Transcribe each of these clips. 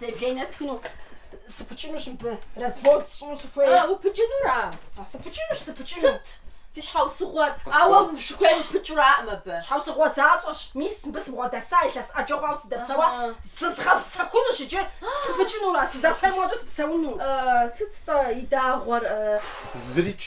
Заявление стхыну сыпыкӏынущ мыбы, развод сщӏыну сыхуей. А, упыкӏынура? А, сыпыкӏынущ, сыпыкӏыну. Сыт фи щхьэусыгъуэр? Ауэ ущыхуейр упыкӏыураӏым абы. Щхьэусыгъуэ защӏэщ, мис, мыбы сыбгъуэдэса, илъэс ӏэджэ хъуауэ сыдэпсэуа, зызгъэпсэхунущ иджы, сыпыкӏынурэ, сызэрыхуейм хуэдэу сыпсэуну. Сыт-тӏэ и дагъуэр? Зырикӏ.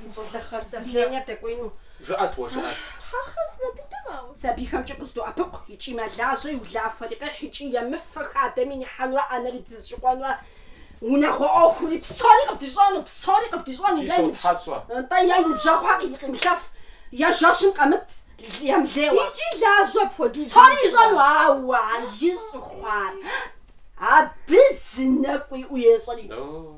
Щӏылыхъэр си давлениер дэкӏуеину. Жыӏэт уэ, жыӏэт. Тхьэ, хъарзынэ дыдэм, ауэ. Сабийхэмкӏэ къыздоӏэпыкъу, икӏи мэлажьэ, и улахуэри къехь, икӏи емыфэ хадэми нихьэнурэ, ӏэнэри дызыщӏыкӏуэнурэ, унагъуэ ӏуэхури, псори къыбдищӏэну, псори къыбдищӏэну, Икӏи е ибж... сотхьэщӏэ. Нтӏэ, е и ныбжьэгъухэр къи... къимылъэф, е жэщым къэмыт емылейуэ. Икӏи лажьэ апхуэдизу Псори ищӏэ. ищӏэну, ауэ а ищӏ хъуар абы зы нэкӏу иӏэу ещӏэри. О!